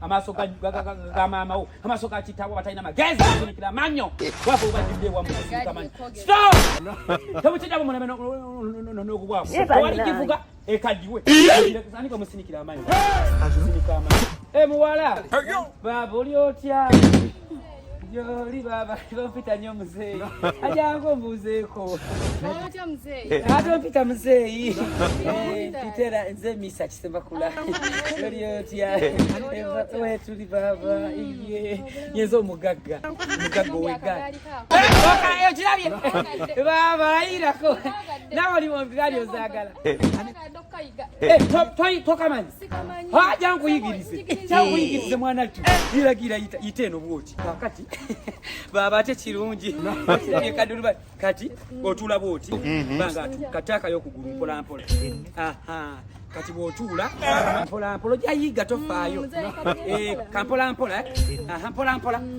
amaaso ga maama wo amaaso ga kitaawo batalina magezi afunikira amanyo wafe obajjudde wamu amanyo stop tebukijjabo muleme n'okubwako owali kivuga ekaddiwe ani bamusinikira amanyo asinika amanyo emuwala baaba oli otya Joli baba bampita nnyo muzeeyi ajangu mbuuzeeko otya muzeeyi ate ompita muzeeyi mpitera eh, nze misa kisemakula oli otya wetuli baba ye nyeza omugagga omugagga owegaali okirabye baba ayirako nawe oli mu bigaali ozaagala eh, eh, tokamanyi haja nkuyigirize kyankuyigirize mwana tu iragira yite eno bwoti kakati baba ate kirungi kaduluba kati otula bwoti mhm. banga tu kataka yo kugulu mpola mpola aha kati bwotuula mpola mpola jayiga tofaayo mm, eh, kampola mpola eh? aha mpola mpola